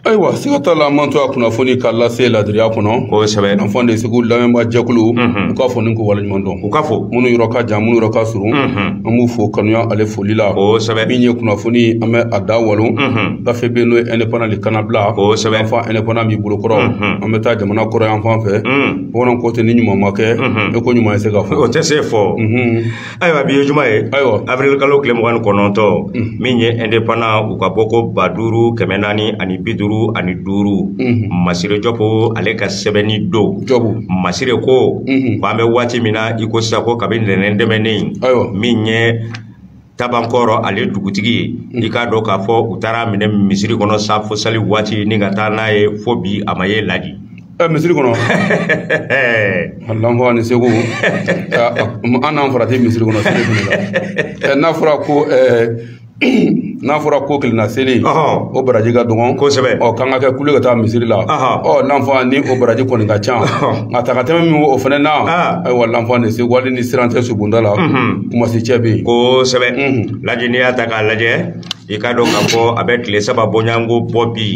ayiwa siga t'a la an man to a kunnafoni ka lase ladiriya kɔnɔ kosɛbɛ anfan de segu lamɛnba jɛkulu u ka fo ni k'u waleɲuman dɔn u ka fɔ minnu yɔrɔ ka jan minnu yɔrɔ ka surun an b'u fo kanuya ale foli la kosɛbɛ min ye kunnafoni an bɛ a da walo gafe bɛ n'o ye indépendant de kana bila kosɛbɛ anfan indépendant b'i bolo kɔrɔ an bɛ taa jamana kɔrɔn yanfan fɛ bamananw ko ten ni ɲuman ma kɛ e ko ɲuman ye se ka fɔ o tɛ se fɔ ayiwa bi ye juma ye ayiwa avril kalo tile mugan ni kɔnɔntɔn mm. min ye indépendant u ka bɔko ba duuru kɛmɛ naani ani bi duuru ani duuru mm-hmm. masire jɔpo ale ka sɛbɛnni don masire ko mm-hmm. ko an bɛ waati min na i ko sisan ko kabi ntɛnɛn tɛmɛnen min ye tabankɔrɔ ale dugutigi ye mm. i k'a dɔn k'a fɔ u taar'a minɛ misiri kɔnɔ safo sali waati ni ka taa n'a ye fo bi a ma ye laji ɛ misiri kɔnɔ lanfan de segu an n'an farati misiri kɔnɔ seli fana la ɛ n'a fɔra ko n'a fɔra ko kelenna seli o baraji ka dɔgɔn kosɛbɛ ɔ k'an ka kɛ kulu ye ka taa misiri la ɔ lanfan ni o baraji kɔni ka ca nka taa ka tɛmɛ min o fana na ayiwa lanfan de segu hali ni siran tɛ subonda la kumasi cɛ bɛ yen kosɛbɛ laji n'i y'a ta k'a lajɛ i k'a dɔn k'a fɔ a bɛ tile saba bɔɲɔgɔnko bɔ bi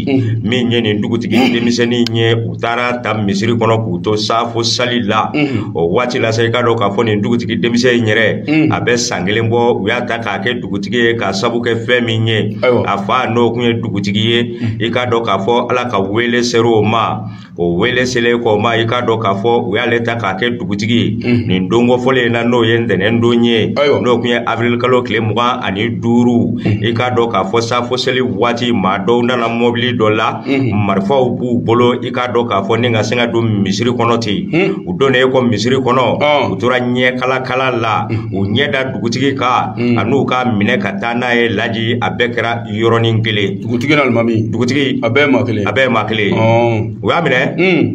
min ye nin dugutigi denmisɛnnin ye u taar'a ta misiri kɔnɔ k'u to safo sali la o waati la sa i k'a dɔn k'a fɔ nin dugutigi denmisɛn in yɛrɛ a bɛ san kelen bɔ u y'a ta k'a kɛ dugutigi ye k'a sabu kɛ fɛn min ye a fa n'o kun ye dugutigi ye i k'a dɔn k'a fɔ ala ka wele ser'o ma o wele selen k'o ma i k'a dɔn k'a fɔ u y'ale ta k'a kɛ dugutigi ye mhm. nin don kɔfɔlen in na n'o ye ntɛnɛn don ye n'o tun ye avril kalo tile mugan ani duuru mhm. i k'a dɔn k'a fɔ safo seli waati maa dɔw nana mɔbili dɔ la mhm. marifaw b'u bolo i k'a dɔn k'a fɔ ni ka se ka don misiri kɔnɔ ten u donnen kɔ misiri kɔnɔ u tora ɲɛ kalakala la u ɲɛ da dugutigi kan an'u k'a minɛ ka taa n'a ye laji a bɛɛ kɛra yɔrɔnin kelen dugutigi n'alimami dugutigi a bɛɛ ye maa kelen a bɛɛ ye maa kelen ye u y'a minɛ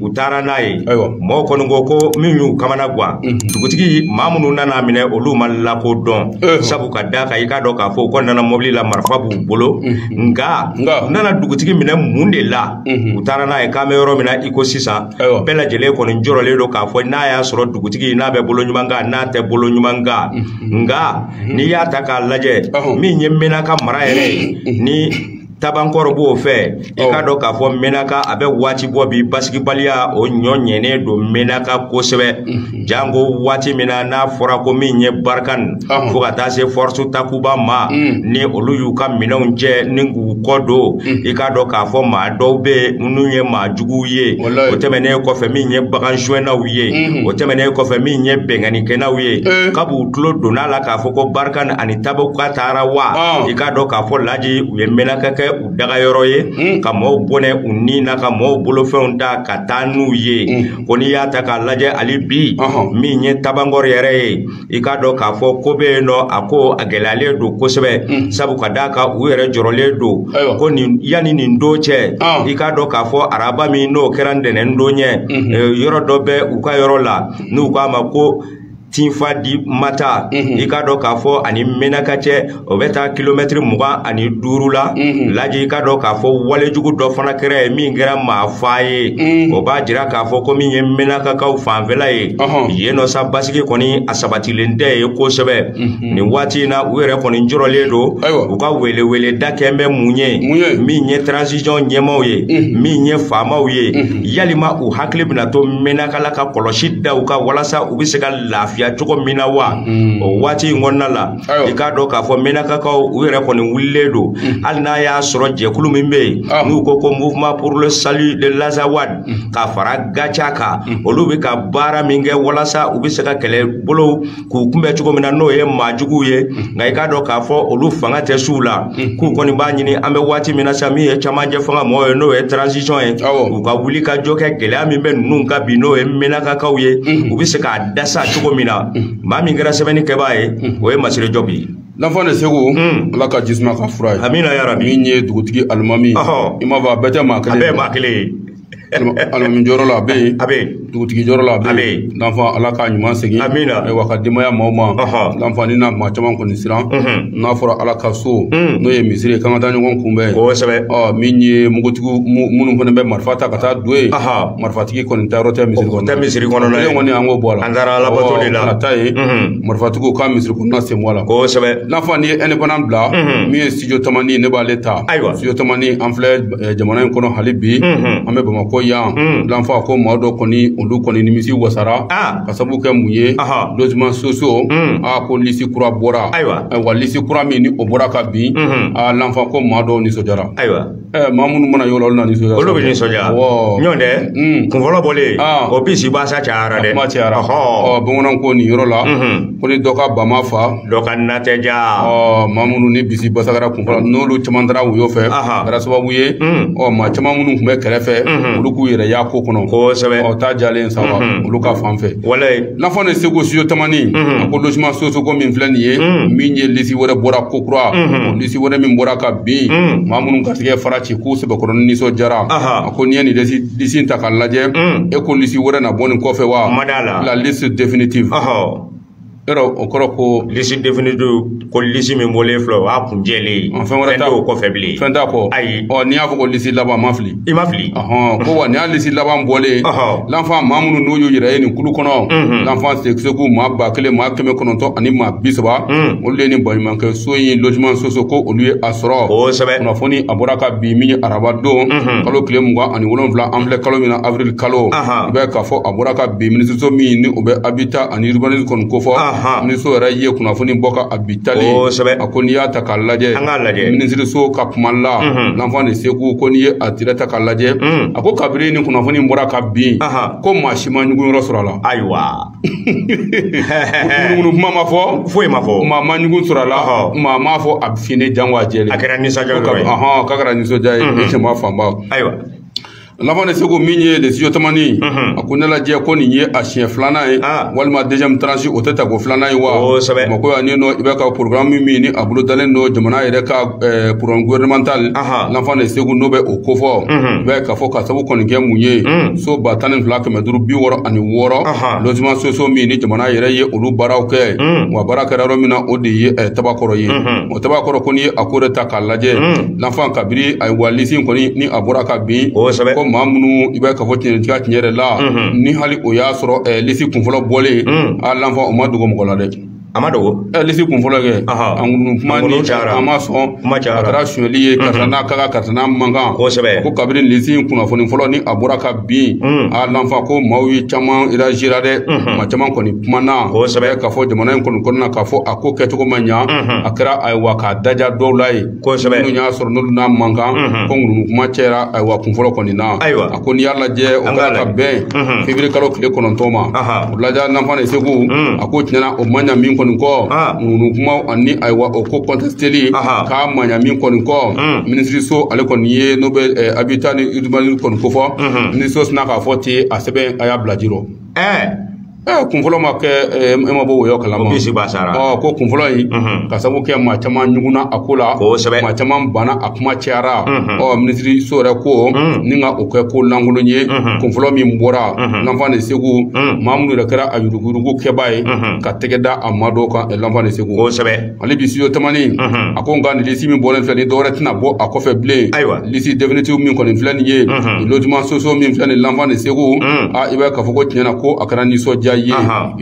u taara n'a ye mɔgɔw kɔni ko ko min y'u kamana gan dugutigi maa minnu nan'a minɛ olu ma lakodɔn sabu ka d'a kan i k'a dɔn k'a fɔ u kɔni nana mɔbili la marifa b'u bolo nka u nana dugutigi minɛ mun de la u taara n'a ye k'an bɛ yɔrɔ min na i ko sisan bɛɛ lajɛlen kɔni jɔrɔlen don k'a fɔ n'a y'a sɔrɔ dugutigi n'a bɛ bolo ɲuman kan n'a tɛ bolo ɲuman kan nka n'i y'a ta k'a lajɛ min ye mɛnaka mara yɛrɛ ye ni tabankɔrɔ b'o fɛ i k'a dɔn k'a fɔ mɛnaka a bɛ waati bɔ bi basigibaliya o ɲɔ ɲɛnen don mɛnaka kosɛbɛ mhm. janko waati min na n'a fɔra ko min ye barkhane fo ka taa se force takuba ma mhm. ni olu y'u ka minɛnw cɛ ni k'u kɔ don mhm. i k'a dɔn k'a fɔ maa dɔw bɛ yen minnu ye maa juguw ye o tɛmɛnen kɔfɛ min ye bagan suɲɛnaw ye mhm. o tɛmɛnen kɔfɛ min ye binkannikɛnaw ye eh. kab'u tulo donna la k'a fɔ ko Barkhane ani Takuba taara wa ah. i k'a dɔn k'a fɔ laji u ye mɛnaka kɛ u dagayɔrɔ ye mhm. ka mɔɔw bɔnɛ u ni na ka mɔɔw bolofɛnw ta ka taa n'u ye mhm. ko n'i y'a ta k'a lajɛ hali bi min ye tabankɔrɔ yɛrɛ ye i k'a dɔn k'a fɔ ko bɛ yen nɔ a ko a gɛlɛyalen don kosɛbɛ mm. sabu ka d'a kan u yɛrɛ jɔrɔlen don ko nin yanni nin don cɛ ah. i k'a dɔn k'a fɔ araba min n'o kɛra ntɛnɛn don ye mm-hmm. eh, yɔrɔ dɔ bɛ u ka yɔrɔ la n'u k'a ma ko tinfadimata mm-hmm. i k'a dɔn k'a fɔ a ni mɛnaka cɛ o bɛ taa kilomɛtiri mugan ani duuru la mhm. laji i k'a dɔn k'a fɔ walejugu dɔ fana kɛra yen min kɛra maafaa ye mhm. o b'a jira k'a fɔ ko min ye mɛnakakaw fanfɛla ye yen nɔ sa basigi kɔni a sabatilen tɛ yen kosɛbɛ mhm. nin waati in na u yɛrɛ kɔni jɔrɔlen don u ka welewele da kɛn bɛ mun ye min ye transition ɲɛmaaw ye min ye faamaw ye yalima u hakili bɛna to mɛnaka la ka kɔlɔsi da u kan walasa u bɛ se ka lafiya cogo min na wa o waati in kɔnɔna la i k'a dɔn k'a fɔ mɛnakakaw u yɛrɛ kɔni wulilen don mm. hali n'a y'a sɔrɔ jɛkulu min bɛ yen ah. n'u ko ko mouvement pour le salut de l'Azawad mm. ka fara Gatia kan mm. olu bɛ ka baara min kɛ walasa u bɛ se ka kɛlɛbolow k'u kunbɛn cogo min na n'o ye maajuguw ye nka i k'a dɔn k'a fɔ olu fanga tɛ s'u la k'u kɔni b'a ɲini an bɛ waati min na sisan min ye cɛmancɛ fanga mɔgɔw ye n'o ye transition ye u ka wulikajɔ kɛ gɛlɛya min bɛ ninnu kan bi n'o ye mɛnakakaw ye u bɛ se k'a dasa cogo min na maa min kɛra sɛbɛnni kɛbaa ye o ye masire jɔbi ye l'enfant de Segu ala ka jisuma k'a fura ye amina ya rabi min ye dugutigi alimami i m'a fɔ a bɛɛ tɛ maa kelen a bɛɛ maa kelen ye alimami jɔyɔrɔ la a bɛ yen a bɛ yen dugutigi jɔyɔrɔ la a bɛ yen l'enfant ala k'a ɲuman segin amina ayiwa ka denbaya maaw ma l'enfant nin na maa caman kɔni siran n'a fɔra ala ka so n'o ye misiri ye k'an ka taa ɲɔgɔn kunbɛn kosɛbɛ min ye mugutigiw minnu fana bɛ marifa ta ka taa don yen marifatigi kɔni taayɔrɔ tɛ misiri kɔnɔ tɛ misiri kɔnɔna kɔni an k'o bɔ a la an taara alabato de la ta ye marifatigiw ka misiri kɔnɔna sen bɔ a la kosɛbɛ l'enfant n'i ye indépendant bila min ye studio tamani ne b'ale ta ayiwa studio tamani an filɛ jamana in kɔnɔ hali bi an bɛ bamakɔ yan l'enfant a ko maa dɔ kɔni olu kɔni nimisi wasara ka sabu kɛ mun ye logement sociaux ko lisi kura bɔra ayiwa wa lisi kura min ni o bɔra ka bin a l'enfant ko maa dɔw nisɔndiyara ayiwa Eh, maa minnu mana yɔrɔ olu na nisɔndiya olu bɛ nisɔndiya ɲɔɔn tɛ mm. kun fɔlɔ bɔlen ah. o bisibasa cayara dɛ kuma cayara ɔ bamananw ko nin yɔrɔ la mm-hmm. ko ni dɔ ka ba ma faa dɔ ka na tɛ diya ɔ maa minnu ni bisi basagara kun fɔlɔ n'olu caman taara woyo fɛ kɛra sababu ye mm. ɔ maa caman minnu tun bɛ kɛrɛfɛ mm-hmm. olu k'u yɛrɛ y'a ko kɔnɔ kosɛbɛ ɔ ta diyalen sa wa mm-hmm. olu ka fan fɛ walayi l'enfant de Segu studio tamani a ko logement sociaux ko min filɛ nin ye min ye lisi wɛrɛ bɔra ko kura ci wɛrɛ min bɔra ka bin mm. maa minnu garisɛgɛ fara ci k'u sɛbɛkɔrɔ ni nisɔndiyara a ko n'i ye nin lisi in ta k'a lajɛ mm. e ko lisi wɛrɛ na bɔ nin kɔfɛ wa la liste définitive yɔrɔ o kɔrɔ ko lisi définitive ko lisi min bɔlen filɛ o y'a kuncɛlen ye fɛn wɛrɛ t'a kɔfɛ bilen fɛn t'a kɔ ayi ɔ n'i y'a fɔ ko lisi laban ma fili i ma fili ɔhɔn ko wa nin y'a lisi laban bɔlen Ɔhɔ. lanfan maa minnu n'u y'u yɛrɛ ye nin kulu kɔnɔ Mhm. lanfan segu maa ba kelen maa kɛmɛ kɔnɔntɔn ani maa bi saba Mm. olu de ye nin baɲumankɛ so in logements sociaux ko olu ye a sɔrɔ kosɛbɛ kunnafoni a bɔra ka bi min ye araba don Mhm. kalo tile mugan ani wolonwula an filɛ kalo min na avril kalo Aha. i b'a ye k'a fɔ a bɔra ka bi minisiriso min ni o bɛ habitat ani urbanisme kɔni kofɔ Aha. minisiriso yɛrɛ ye kunnafoni bɔ ka a bi tali kosɛbɛ a ko n'i y'a ta k'a lajɛ an k'a lajɛ minisiriso ka kuma la mhm. lanfan de segu ko n'i ye a tira ta k'a lajɛ mhm. a ko kabiri ni kunnafoni in bɔra ka bin ko maa si ma ɲugun yɔrɔ sɔrɔ a la ayiwa ŋunuŋunu kuma ma fɔ foyi ma fɔ maa ma ɲugun sɔrɔ a la maa m'a fɔ a finnen jango a jɛlen a kɛra nisɔndiya yɔrɔ ye k'a kɛra nisɔndiya ye jama fanba ayiwa lanfan de segu min ye de studio tamani mhm. a ko ne lajɛ ko nin ye a siɲɛ filanan ye ah. walima deuxième tranche o tɛ tako filanan ye bamakɔ yan ni nɔ i bɛ ka programme min ni a bolodalen don jamana yɛrɛ ka eh, programme gouvernemental lanfan de segu n'o bɛ o kofɔ mhm. i bɛ k'a fɔ ka sabu kɔni kɛ mun ye mhm. so ba tan ni fila kɛmɛ duuru bi wɔɔrɔ ani wɔɔrɔ logements sociaux min ni jamana yɛrɛ ye olu baaraw kɛ wa baara kɛra yɔrɔ min na o de ye eh, tabakɔrɔ ye o tabakɔrɔ ko n'i ye a ko de ta k'a lajɛ Lanfan kabiri ayiwa lisi in kɔni ni a bɔra ka bin kosɛbɛ ko maa minnu i bɛ k'a fɔ tiɲɛtigiya tiɲɛ yɛrɛ la ni hali o y'a sɔrɔ ɛɛ lisi kunfɔlɔ bɔlen a lanfan o ma dogo mɔgɔ la dɛ a ma dogo ɛɛ lisi kunfɔlɔ kɛ a ŋunu kuma ni a ma sɔn kuma cayara a kɛra sonyali ye karisa n'a ka karisa n'a man kan kosɛbɛ ko kabiri lisi in kunnafoni fɔlɔ ni a bɔra ka bin a lanfan ko maaw ye caman réagira dɛ maa caman kɔni kumana kosɛbɛ k'a fɔ jamana in kɔni kɔnɔna k'a fɔ a ko kɛcogo ma ɲa a kɛra ayiwa k'a daja dɔw la ye kosɛbɛ minnu y'a sɔrɔ n'olu n'a man kan ko ŋunuŋunu kuma cɛra ayiwa kunfɔlɔ kɔni na ayiwa a ko n'i y'a lajɛ o kɛra ka bɛn février kalo tile kɔnɔntɔn ma o lajɛ lanfan de segu a ko tiɲɛna o man ɲa min kɔni kɔ ŋunuŋunu kuma ani ayiwa o ko kɔntɛsiteli k'a man ɲa min kɔni kɔ minisiriso ale kɔni ye n'o bɛ habitat ni urbanisme kɔni kofɔ minisiriso sina k'a fɔ ten a sɛbɛn a y'a bila ji rɔ Eh, kunfɔlɔ ma kɛ eh, e ma bɔ woyɔ kalama ko bisi b'a sara ɔ ko kunfɔlɔ in mhm. ka sabu kɛ maa caman ɲugunna a ko la kosɛbɛ maa caman banna a kuma cayara mhm. ɔ minisiriso yɛrɛ ko mhm. ni ka o kɛ ko lankolon ye kunfɔlɔ min bɔra lanfan de segu maa minnu yɛrɛ kɛra a yuruguyurugu kɛbaa ye ka tɛgɛ da a maa dɔw kan eh, lanfan de segu kosɛbɛ ale bi studio tamani a ko nka nin lisi min bɔlen filɛ ni dɔwɛrɛ tɛna bɔ a kɔfɛ bilen ayiwa lisi définitive min kɔni filɛ nin ye nin logement sociaux min filɛ nin l'enfant de segu a i b'a ye k'a fɔ ko tiɲɛ na ko a kɛra nisɔndiya ye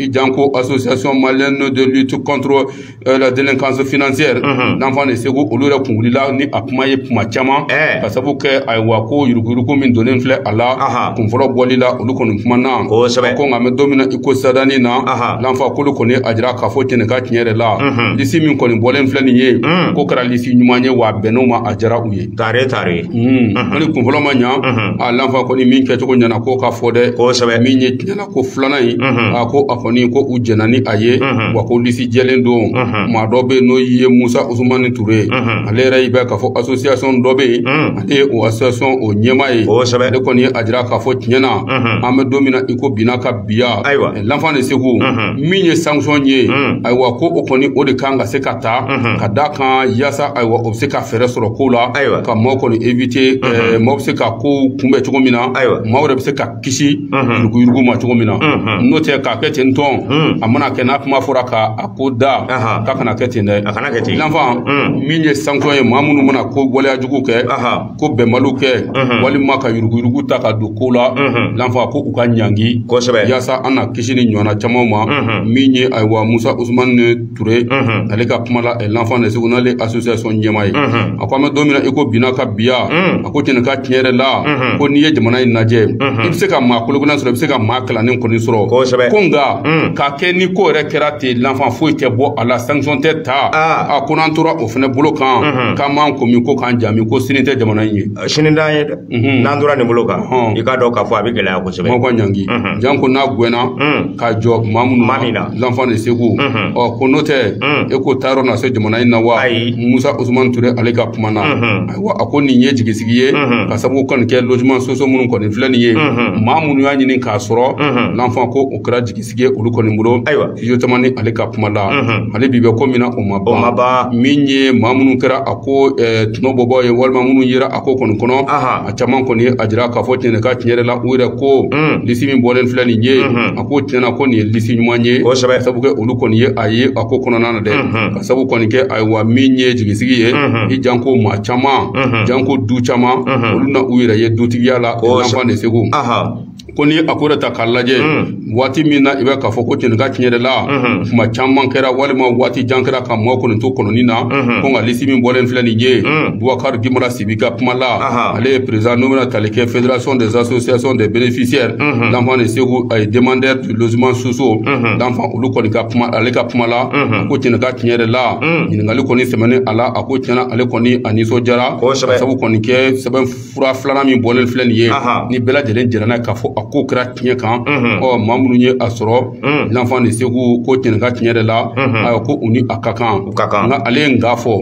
i janko association malienne de lutte contre euh, la délinquance financière l'enfant de segu olu yɛrɛ kun wulila ni a kuma ye kuma caman ka sabu kɛ ayiwa ko yuruguyurugu min donnen filɛ a la kunfɔlɔ bɔli la olu kɔni kumana ko nka an bɛ don min na i ko sadani na l'enfant k'olu kɔni y'a jira k'a fɔ tiɲɛ ka tiɲɛ yɛrɛ la mhm. lisi min kɔni bɔlen filɛ nin ye mhm. ko kɛra lisi ɲuman ye wa bɛnn'o ma a diyara u ye tare tare mhm. hali kunfɔlɔ ma ɲa a l'enfant kɔni min kɛcogo ɲɛna k'o ka fɔ dɛ kosɛbɛ min ye tiɲɛna ko filanan ye a ko a kɔni ko u jɛnna ni a ye wa ko lisi jɛlen don maa dɔ bɛ yen n'o ye musa usumani ture ye ale yɛrɛ y'i bɛ k'a fɔ association dɔ bɛ yen ale ye o association o ɲɛmaa ye kosɛbɛ ale kɔni y'a jira k'a fɔ tiɲɛna an bɛ don min na i ko bi n'a ka biya ayiwa l'enfant de segu min ye sanction ye ayiwa ko o kɔni o de kan ka se ka ta ka da kan yaasa ayiwa o bɛ se ka fɛɛrɛ sɔrɔ ko la ka maaw kɔni éviter maaw bɛ se ka kow kunbɛn cogo min na maaw yɛrɛ bɛ se ka kisi yuruguyurugu ma cogo min na n'o tɛ k'a kɛ ten tɔn a mana kɛ n'a kuma fɔra ka a ko da k'a kana kɛ ten dɛ l'enfant min ye sanction ye maa minnu mana ko waleyajugu kɛ ko bɛnbaliw kɛ walima ka yuruguyurugu ta ka don ko la l'enfant ko u ka ɲangi kosɛbɛ yaasa an na kisi ni ɲɔgɔnna camanw ma min ye ayiwa musa usumani ture ale ka kuma la l'enfant de segu n'ale association ɲɛmaa ye a ko an bɛ don min na i ko bi n'a ka biya a ko tiɲɛ n'a ka tiɲɛ yɛrɛ la ko n'i ye jamana in lajɛ i bɛ se ka maa kolo kololen sɔrɔ i bɛ se ka maa kalannen kɔni sɔrɔ kosɛbɛ ko nka k'a kɛ ni ko yɛrɛ kɛra ten l'enfant foyi tɛ bɔ a la sanction tɛ ta a ko n'an tora o fana bolo kan k'an m'an ko min ko k'an ja min ko sini tɛ jamana in ye sini t'an ye dɛ n'an tora nin bolo kan i k'a dɔn k'a fɔ a bɛ gɛlɛya kosɛbɛ maaw ka ɲangi janko n'a gɛnna ka jɔ maa minnu maa min na l'enfant de segu ɔ ko n'o tɛ e ko taa yɔrɔ na se jamana in na wa musa usumani ture ale ka kuma na ayiwa a ko nin ye jigisigi ye ka sababu kɔni kɛ logement sociaux minnu kɔni filɛ nin ye maa minnu y'a ɲini k'a sɔrɔ l'enfant ko o kɛra jigisigi ye olu kɔni bolo ayiwa studio tamani ale ka kuma la hali bi bɛ ko min na o ma ban o ma ban min ye maa minnu kɛra a ko tɔnɔbɔbaaw ye walima minnu yera a ko kɔni kɔnɔ a caman kɔni y'a jira k'a fɔ tiɲɛ ka tiɲɛ yɛrɛ la u yɛrɛ ko lisi min bɔlen filɛ nin ye a ko tiɲɛna ko nin ye lisi ɲuman ye kosɛbɛ ka sabu kɛ olu kɔni ye a ye a ko kɔnɔna na dɛ ka sabu kɔni kɛ ayiwa min ye jigisigi ye i janko maa caman janko du caman olu na u yɛrɛ ye dutigiya la l'enfant de segu ko ni a ko yɛrɛ ta k'a lajɛ hmm. waati min na i bɛ k'a fɔ ko tiɲɛ ka tiɲɛ yɛrɛ la hmm. kuma caman kɛra walima waati jan kɛra ka maaw kɔni to kɔnɔni na hmm. ko nka lisi min bɔlen filɛ nin ye bubakari gimara sibi ka kuma la ale ye président n'o bɛna tali kɛ fédération des associations des bénéficiaires l'enfant de segu a ye demandeur du logement sociaux l'enfant olu kɔni ka kuma ale ka kuma la ko tiɲɛ ka tiɲɛ yɛrɛ la ɲininkali kɔni sɛmɛnen a la a ko tiɲɛna ale kɔni a nisɔndiyara ka sabu kɔni kɛ sɛbɛn fura filanan min bɔlen filɛ nin ye ni bɛɛ lajɛlen jɛra n'a ye k'a fɔ a ko kɛra tiɲɛ kan ɔ maa minnu ye a sɔrɔ l'enfant de segu ko tiɲɛ ka tiɲɛ yɛrɛ la ayiwa ko u ni a ka kan nka ale ye nka fɔ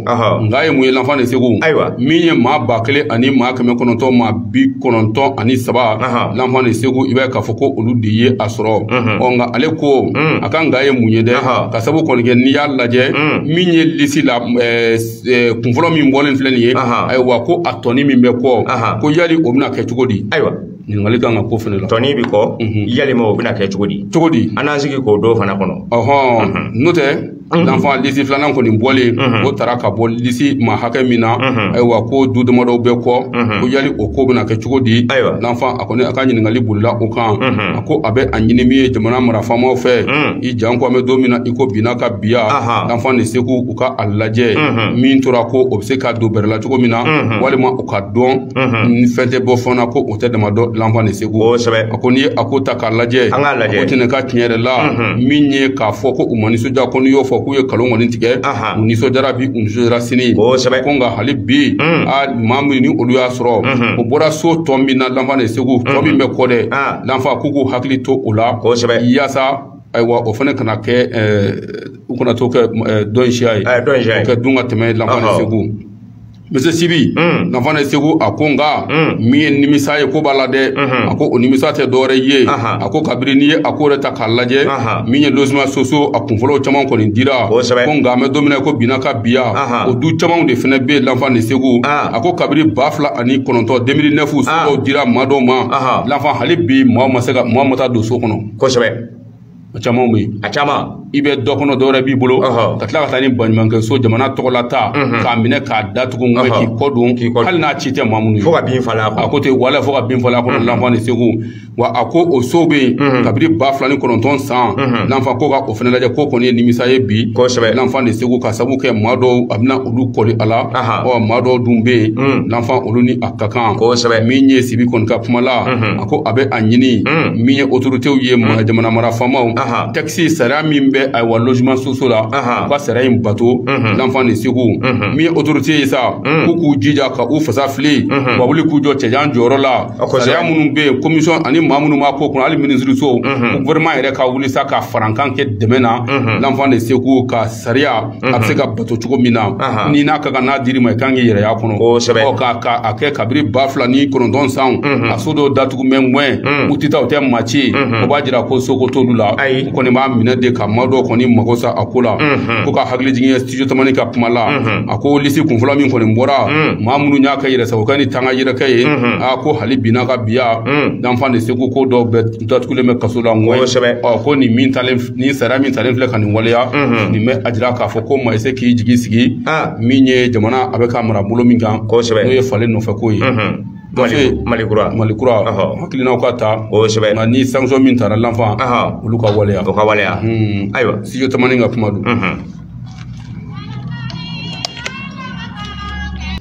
nka ye mun ye l'enfant de segu min ye maa ba kelen ani maa kɛmɛ kɔnɔntɔn maa bi kɔnɔntɔn ani saba l'enfant de segu i b'a ye k'a fɔ ko olu de ye a sɔrɔ ɔ nka ale ko a ka nka ye mun ye dɛ ka sabu kɔni kɛ n'i y'a lajɛ min ye lisi la Eh, kunfɔlɔ min bɔlen filɛ nin ye ayiwa ko a tɔni min bɛ kɔ ko yali o bɛna kɛ cogo di ayiwa ɲininkali kan ka ko fana la tɔni bɛ kɔ mhm. yalima o bɛna kɛ cogo di cogo di an n'an sigi k'o don fana kɔnɔ ɔhɔn mhm. n'o tɛ mhm. l'enfant lisi filanan kɔni bɔlen o tara ka bɔ lisi maa hakɛ min na ayiwa ko du damadɔw bɛ kɔ ko yali o ko bɛna kɛ cogo di ayiwa l'enfant a kɔni a ka ɲininkali bolila o kan a ko a bɛ a ɲini min ye jamana marafamaw fɛ i janko an bɛ don min na i ko bi na ka biya l'enfant de segu u ka a lajɛ min tora kɔ o bɛ se ka don bɛrɛ la cogo min na walima u k'a dɔn ni fɛn tɛ bɔ fana ko o tɛ dama dɔn l'enfant de segu a ko n'i ye a ko ta k'a lajɛ ko tiɲɛ ka tiɲɛ yɛrɛ la min ye k'a fɔ ko u ma nisɔndiya ko n'i y'o fɔ k'u ye nkalon kɔni tigɛ u nisɔndiyara bi u nisɔndiyara sini ko nka hali bi a maa minnu olu y'a sɔrɔ o bɔra so tɔ min na l'enfant de segu tɔ min bɛ kɔ dɛ l'enfant k'u k'u hakili to o la yaasa ayiwa o fana kana kɛ u kana to kɛ dɔn siya ye kɛ dun ka tɛmɛ l'enfant de segu monsieur sibi l'enfant de segu a ko nka min ye nimisa ye ko b'a la dɛ a ko o nimisa tɛ dɔwɛrɛ ye a ko kabiri n'i ye a ko yɛrɛ ta k'a lajɛ min ye logement sociaux a kunfɔlɔw caman kɔni dira ko nka an bɛ don min na ko bi na ka biya o du camanw de fana bɛ yen l'enfant de segu a ko kabiri ba fila ani kɔnɔntɔn deux mille neuf sow dira maa dɔw ma l'enfant hali bi maa ma se ka maa ma taa don so kɔnɔ kosɛbɛ a caman bɛ yen a caman i bɛ dɔ kɔnɔ dɔwɛrɛ b'i bolo ka tila ka taa ni baɲumankɛ so jamana tɔgɔla ta k'a minɛ k'a datugu nka k'i kɔ don hali n'a ci tɛ maa minnu ye fo ka bin falen a kɔnɔ a ko ten wala fo ka bin falen a kɔnɔ l'enfant de segu wa a ko o so bɛ yen kabiri ba fila ni kɔnɔntɔn san l'enfant ko ka o fana lajɛ ko kɔni ye nimisa ye bi kosɛbɛ l'enfant de segu ka sabu kɛ maa dɔw a bɛna olu kɔli a la ɔ maa dɔw dun bɛ yen l'enfant olu ni a ka kan kosɛbɛ min ye sibi kɔni ka kuma la ko a bɛ a ɲini mm. min ye otoritew ye mm. jamana mara faamaw texte sariya min bɛ ayiwa logement sociaux la u ka sariya in bato mm-hmm. l'enfant de Segu mm-hmm. min ye otorite ye sa mm. k'u k'u jija ka u fasa fili mm-hmm. ka wuli k'u jɔ cɛjan jɔyɔrɔ la sariya minnu bɛ yen komisɔn ani maa minnu b'a ko kɔnɔ hali minisiriso ko gouvernement yɛrɛ ka wuli sa ka farankan kɛ dɛmɛ na l'enfant de Segu ka sariya a bɛ se ka bato cogo min na ni n'a ka kan n'a dir'i ma i kan k'i yɛrɛ y'a kɔnɔ kosɛbɛ ɔ ka ka a kɛ kabiri ba fila ni kɔnɔntɔn san a so dɔw datugulen bɛ yen u tɛ taa u tɛ maa ci o b'a jira ko soko t'olu la u kɔni b'a minɛ de ka maa dɔw kɔni mago sa a ko la ko ka hakili jigin ye studio tamani ka kuma la a ko lisi kunfɔlɔ min kɔni bɔra maa minnu y'a kɛ yɛrɛsagokɛ ni tanga yɛrɛkɛ ye a ko hali bi n'a ka biya l'enfant de Segu ko dɔw bɛ n datugulen bɛ kaso la n ko kosɛbɛ ɔ ko nin min talen nin sariya min talen filɛ ka nin waleya nin bɛ a jira k'a fɔ ko maa i se k'i jigi sigi min ye jamana a bɛ ka mara bolo min kan kosɛbɛ n'o ye falen nɔfɛ ko ye mali kura mali kura hakilinaw ka ta kosɛbɛ nka ni sanction min tara l'enfant olu ka waleya o ka waleya ayiwa studio tamani ka kuma don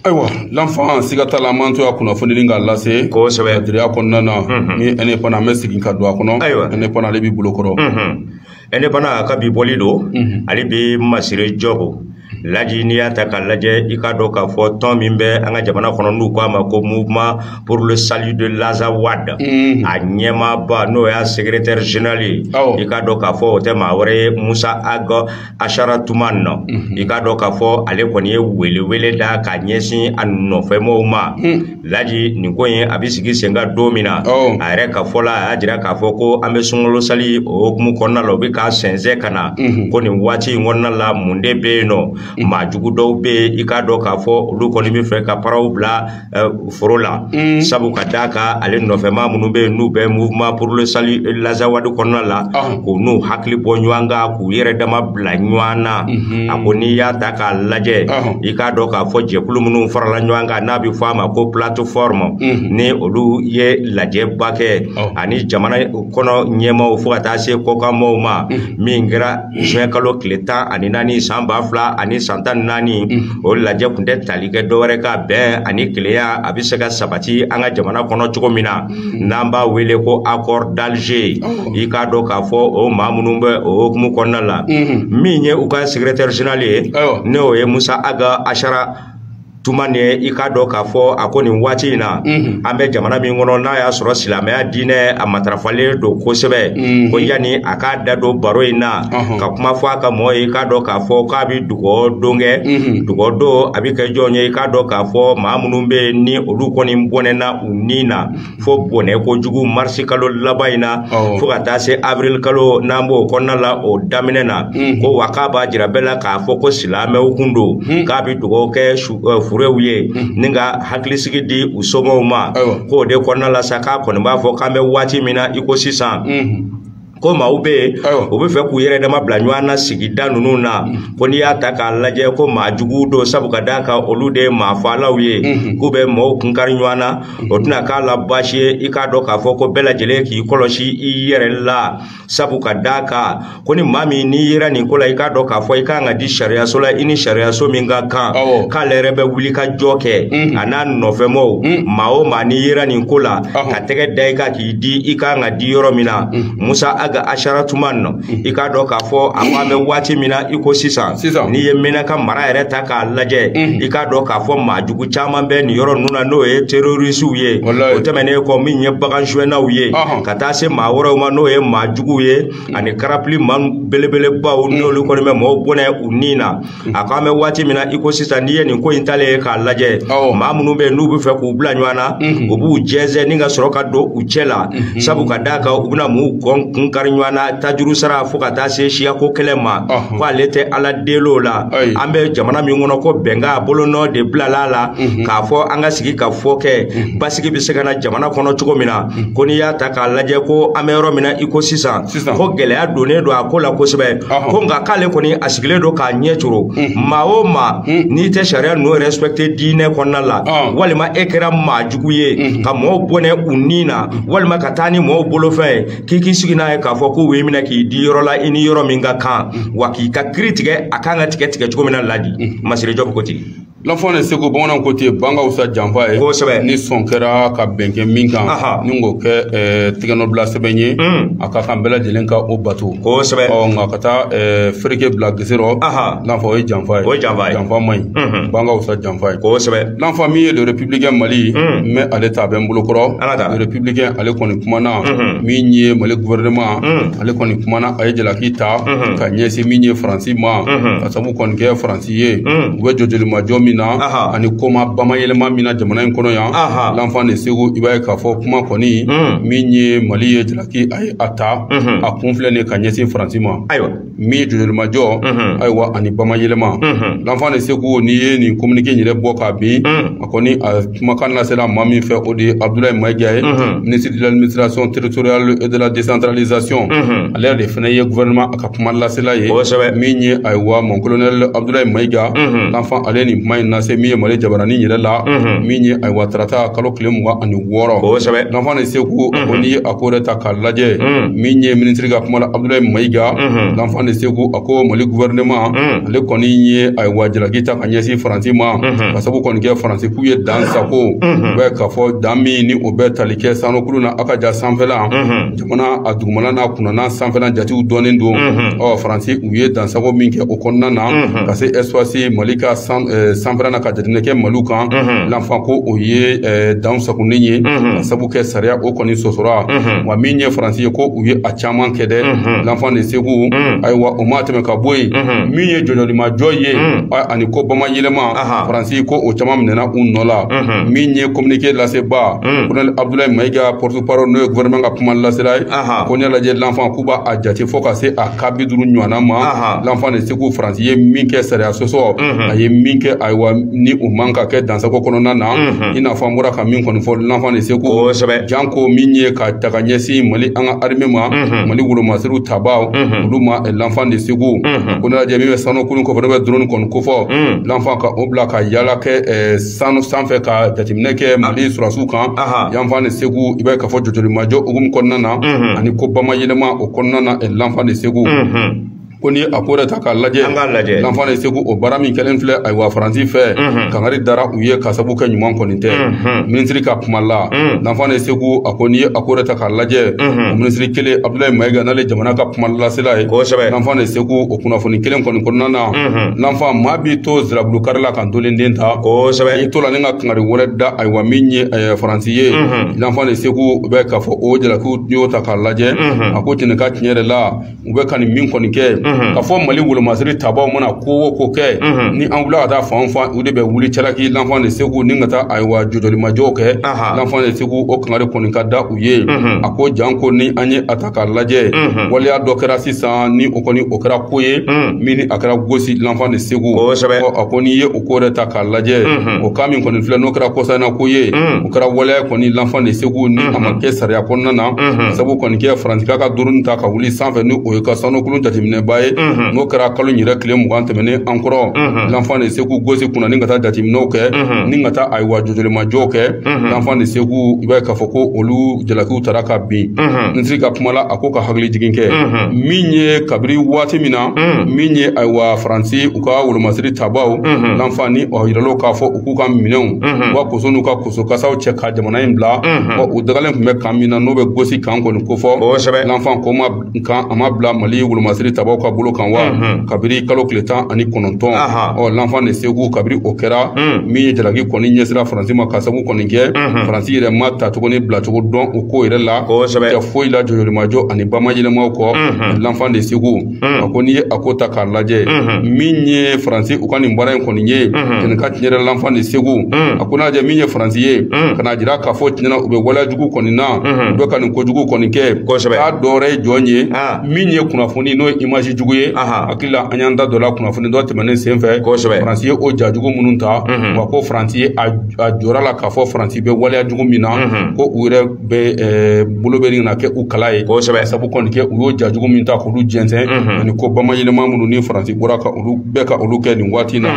ayiwa l'enfant siga t'a la an b'an to a kunnafoni ni k'a lase kosɛbɛ kadiriya kɔnɔna na ni Indépendant an bɛ segin ka don a kɔnɔ ayiwa Indépendant ale b'i bolo kɔrɔ Indépendant ka bi bɔli don ale bɛ Masire Jɔpu laji n'i y'a ta k'a lajɛ i k'a dɔn k'a fɔ tɔn min bɛ an ka jamana kɔnɔ n'u k'a ma ko mouvement pour le salut de l'Azawad mm. a ɲɛmaaba n'o y'a secrétaire général ye oh. i k'a dɔn k'a fɔ o tɛ maa wɛrɛ ye Musa Ag Asharatuman nɔ mm -hmm. i k'a dɔn k'a fɔ ale kɔni ye welewele da ka ɲɛsin a nɔfɛmɔgɔw ma mm. laji nin ko in a bɛ sigi sen kan don min na oh. a yɛrɛ ka fɔ la a y'a jira k'a fɔ ko an bɛ sunkalo sali o hukumu kɔnɔna la o bɛ ka sɛnsɛn ka na mm -hmm. ko nin waati in kɔnɔna la mun de bɛ yen nɔ mm. maa jugu dɔw bɛ yen i k'a dɔn k'a fɔ olu kɔni bɛ fɛ ka paraw bila foro la sabu ka d'a kan ale nɔfɛmaa minnu bɛ yen n'u bɛ mouvement pour le salut l'Azawad kɔnɔna la k'u n'u hakili bɔ ɲɔgɔn kan k'u yɛrɛ dama bila ɲɔgɔn na a ko n'i y'a ta k'a lajɛ i k'a dɔn k'a fɔ jɛkulu minnu farala ɲɔgɔn kan n'a bɛ fɔ a ma ko plateforme ni olu ye lajɛba kɛ ani jamana kɔnɔ ɲɛmaaw fo ka taa se kɔkanmaaw ma min kɛra juin kalo tile tan ani naani san ba fila ani san tan ni naani o lajɛ kun tɛ tali kɛ dɔwɛrɛ kan bɛn ani kelenya a bɛ se ka sabati an ka jamana kɔnɔ cogo min na mm. n'an b'a wele ko accord d'Alger oh. i k'a dɔn k'a fɔ o maa minnu bɛ o hukumu kɔnɔna la mm-hmm. min ye u ka secrétaire général ye n'o ye Musa Ag Asharatumani i k'a dɔn k'a fɔ a ko nin waati in na mhm. an bɛ jamana min kɔnɔ n'a y'a sɔrɔ silamɛya diinɛ a matarafalen don kosɛbɛ mhm. ko yanni a k'a da don baro in na ka kuma fɔ a ka mɔgɔ ye k'a dɔn k'a fɔ k'a bɛ dugawu don kɛ dugawu don a bɛ kɛ jɔn ye i k'a dɔn k'a fɔ maa minnu bɛ yen ni olu kɔni bɔnɛna u ni na fo bɔnɛ kojugu marisi kalo laban in na fo ka taa se avril kalo n'an b'o kɔnɔna la o daminɛ na ko wa k'a b'a jira bɛɛ la k'a fɔ ko silamɛw kun don k'a bɛ dugawu kɛ furew ye ni ka hakilisigi di u somɔgɔw ma k'o de kɔnɔna la sa k'a kɔni b'a fɔ k'an bɛ waati min na i ko sisan ko maaw bɛ yen u bɛ fɛ k'u yɛrɛ dama bila ɲɔgɔn na sigida ninnu na ko n'i y'a ta k'a lajɛ ko maa jugu don sabu ka d'a kan olu de ye maa faalaw ye k'u bɛ maaw kunkari ɲɔgɔn na o tɛna k'a la baasi ye i k'a dɔn k'a fɔ ko bɛɛ lajɛlen k'i kɔlɔsi i yɛrɛ la sabu ka d'a kan ko ni maa min n'i yera nin ko la i k'a dɔn k'a fɔ i kan ka di sariyaso la i ni sariyaso min ka kan k'ale yɛrɛ bɛ wuli ka jɔ kɛ a n'a nɔfɛmɔgɔw maa o maa n'i yera nin ko la ka tɛgɛ da i kan k'i di i ka kan ka di yɔrɔ min na mm. musa aga asharatuman mm. i k'a dɔn k'a fɔ a ko an bɛ waati min na i ko sisan n'i ye menaka mara yɛrɛ ta k'a lajɛ mm. i k'a dɔn k'a fɔ maa jugu caman bɛ nin yɔrɔ ninnu na n'o ye terorisiw ye o tɛmɛnen kɔ min ye bagan suɲɛnaw ye ka taa se maa wɛrɛw ma n'o ye maa juguw ye ani karapili maa belebelebaw n'olu kɔni bɛ mɔgɔw bɔnɛ u ni na a ko an bɛ waati min na i ko sisan n'i ye nin ko in talen ye k'a lajɛ maa minnu bɛ yen n'u bɛ fɛ k'u bila ɲɔgɔn na mhm. u b'u jɛnsɛn ni ka sɔrɔ ka don u cɛ la mhm. sabu ka d'a kan u bɛna mɔgɔw kunkari ɲɔgɔn na tajuru sara fo ka taa se siyako kɛlɛ ma ko ale tɛ ala deli o la an bɛ jamana min kɔnɔ ko bɛnkan bolonɔ de bilala a la mhm. k'a fɔ an ka sigikafɔ kɛ basigi bɛ se ka na jamana kɔnɔ cogo min na ko n'i y'a ta k'a lajɛ ko an bɛ yɔrɔ min na i ko sisan sisan ko gɛlɛya donnen don a ko la kosɛbɛ Ɔhɔn. ko nka k'ale kɔni a sigilen don k'a ɲɛ coro maa o maa n'i tɛ sariya ninnu respecte diinɛ kɔnɔna la Ɔn. walima e kɛra maa jugu ye ka mɔɔw bɔnɛ u ni na walima ka taa ni mɔɔw bolofɛn ye k'i k'i sigi n'a ye k'a fɔ k'u b'i minɛ k'i di yɔrɔ la i ni yɔrɔ min ka kan wa k'i ka kiri tigɛ a kan ka tigɛ tigɛcogo min na laji masire jɔb ko ten lanfan de segu bamananw ko ten ban ka wusa janfa ye kosɛbɛ ni sɔn kɛra ka bɛn kɛ min kan ni k'o kɛ eh, tɛgɛnɔbila sɛbɛn ye mm. a ka kan bɛɛ lajɛlen ka o bato kosɛbɛ ɔ nka ka taa eh, fereke bila gese rɔ lanfan o ye janfa ye o ye janfa ye janfa man ɲi mm-hmm. ban ka wusa janfa ye kosɛbɛ lanfan min ye le républicain mali mm. n bɛ ale ta a bɛ n bolo kɔrɔ le républicain ale kɔni kumana mm-hmm. min ye mali gouvernement mm. ale kɔni kumana a ye jalaki ta mm-hmm. ka ɲɛsin min ye faransi ma ka sabu kɔni kɛ faransi ye u bɛ jɔjɔlimajɔ min na ani koma bamayɛlɛma min na jamana in kɔnɔ yan lanfan de segu i b'a ye k'a fɔ kuma kɔni min ye mali ye jalaki a ye a ta a kun filɛ nin ka ɲɛsin faransi ma ayiwa min ye jɔjɔlimajɔ ayiwa ani bamayɛlɛma lanfan de segu n'i ye nin kominike in yɛrɛ bɔ k'a bin a kɔni a kumakan lasera maa min fɛ o de ye abudulayi mayiga ye ministre de l'administration territoriale et de la décentralisation ale yɛrɛ de fana ye gouvernement ka kuma lasela ye kosɛbɛ min ye ayiwa mon colonel abdoulaye mayiga l'enfant ale nin kuma in lase min ye mali jabarani yɛrɛ la min ye ayiwa tarata kalo tile mugan ani wɔɔrɔ kosɛbɛ l'enfant de segu a ko n'i ye a ko yɛrɛ ta k'a lajɛ min ye minisiri ka kuma la abdoulaye mayiga l'enfant de segu a ko mali gouvernement ale kɔni ye ayiwa jalaki ta ka ɲɛsin faransi ma ka sabu kɔni kɛ faransi k'u ye dan sago u bɛ k'a fɔ dan min ni o bɛ tali kɛ sanukulu na a ka ja sanfɛla Mana a dugumala n'a kunnana sanfɛla jatew dɔnnen don ɔ faransi u ye dansago min kɛ o kɔnɔna na ka se espace mali ka sanfɛla na ka jateminɛ kɛ maliw kan l'enfant ko o ye dan sagonen ye ka sabu kɛ sariya o kɔni sɔsɔra wa min ye faransi ye ko u ye a caman kɛ dɛ l'enfant de segu ayiwa o ma tɛmɛ ka bɔ yen min ye jɔjɔlimajɔ ye ani ko bamayɛlɛma faransi ko o caman minɛna u nɔ la min ye communiqué lasebaa colonel abdoulaye mayiga porte Parole n'o ye gouvernement ka kuma lasela ye ko n'i y'a lajɛ l'enfant k'u b'a jate fo ka se a ka bi duuru ɲɔgɔnna ma l'enfant de segu faransi ye min kɛ sariya sɔsɔ a ye min kɛ ayiwa ni o man ka kɛ dansago kɔnɔna na i n'a fɔ an bɔra ka min kɔni fɔ l'enfant de segu janko min ye ka ta ka ɲɛsin mali an ka armée ma mali wolomasiriw tabaaw olu ma l'enfant de segu ko n'i y'a lajɛ min bɛ sanukulu kofɔ n'o bɛ drone kɔni kofɔ l'enfant ka o bila ka yaala kɛ sanu sanfɛ ka jateminɛ kɛ mali sɔrɔsiw kan l'enfant de segu i b'a ye k'a fɔ jɔjɔlimajɔ hukumu kɔnɔna na ani ko bamayɛlɛma o kɔnɔna na l'enfant de segu ko ni a ko yɛrɛ ta k'a lajɛ an k'a lajɛ l'enfant de segu o baara min kɛlen filɛ ayiwa faransi fɛ kangari dara u ye ka sabu kɛ ɲuman kɔni tɛ minisiri ka kuma la l'enfant de segu a ko n'i ye a ko yɛrɛ ta k'a lajɛ o minisiri kelen abdoulaye mayiga n'ale jamana ka kuma lasela ye l'enfant de segu o kunnafoni kelen kɔni kɔnɔna na l'enfant maa b'i to zirabulu kari la ka Ntolen den ta kosɛbɛ i to la ni ka kangari wɛrɛ da ayiwa min ye faransi ye l'enfant de segu bɛ k'a fɔ o jalaki n'i y'o ta k'a lajɛ a ko tiɲɛ ka tiɲɛ yɛrɛ la u bɛ ka nin min kɔni kɛ ka fɔ mali wolomasiri tabaaw mana ko o ko kɛ ni an wula ka taa fan fan u de bɛ wuli cɛlaki l'enfant de segu ni ka taa ayiwa jɔjɔlimajɔw kɛ l'enfant de segu o kangari kɔni ka da u ye a ko janko ni an ye a ta k'a lajɛ mhm. waleya dɔ kɛra sisan ni o kɔni o kɛra ko ye mhm. min ni a kɛra gosi l'enfant de segu a ko n'i ye o ko yɛrɛ ta k'a lajɛ mhm. o kan min kɔni filɛ n'o kɛra kɔsana ko ye o kɛra waleya kɔni l'enfant de segu ni a ma kɛ sariya kɔnɔna na sabu kɔni kɛ faransi k'a ka drone ta ka wuli sanfɛ ni o y'a ka sanukulu jateminɛba ye n'o kɛra kalo in yɛrɛ tile mugan tɛmɛnen an kɔrɔ l'enfant de segu gosi kunna ni ka taa jateminɛw kɛ ni ka taa ayiwa jɔjɔlimajɔw kɛ l'enfant de segu i b'a ye k'a fɔ ko olu jalakiw taara ka bin minisiri ka kuma la a ko ka hakili jigin kɛ min ye kabiri waati min na min ye ayiwa faransi u ka wolomasiri tabaw l'enfant ni o yirala k'a fɔ u k'u ka minɛnw u ka koso n'u ka koso kasaw cɛ ka jamana in bila u dagalen tun bɛ kan min na n'o bɛ gosi kan kɔni kofɔ l'enfant ko ma nka a ma bila mali wolomasiri tabaw ka bolo kan wa kabiri kalo tile tan ani kɔnɔntɔn ɔ l'enfant de segu kabiri o kɛra min ye jalaki kɔni ɲɛsira faransi ma ka sabu kɔni kɛ faransi yɛrɛ ma tacogo ni bilacogo dɔn o ko yɛrɛ la tɛ foyi la jɔjɔlimajɔ ani bamayɛlɛmaw kɔ l'enfant de segu a ko n'i ye a ko ta k'a lajɛ min ye faransi u ka nin baara in kɔni ye kɛnɛ kan tiɲɛ yɛrɛ l'enfant de segu a ko n'a lajɛ min ye faransi ye jira k'a fɔ tiɲɛna u bɛ waleyajugu kɔni na u bɛ ka nin kojugu kɔni kɛ Kosɛbɛ. k'a dɔ wɛrɛ ye jɔn ye Ah. min ye kunnafoni n'o ye image jugu ye Aha. hakili la an y'an da dɔ la kunnafoni dɔ tɛmɛnen sen fɛ Kosɛbɛ. faransi ye o jajugu minnu ta wa ko faransi ye a a jɔra la k'a fɔ faransi bɛ waleyajugu min na ko u yɛrɛ bɛ ɛɛ, bolo bɛ nin na kɛ u kala ye Kosɛbɛ. sabu kɔni kɛ u y'o jajugu min ta k'olu jɛnsɛn ani ko bamayɛlɛma minnu ni faransi bɔra ka olu bɛɛ ka olu kɛ nin waati na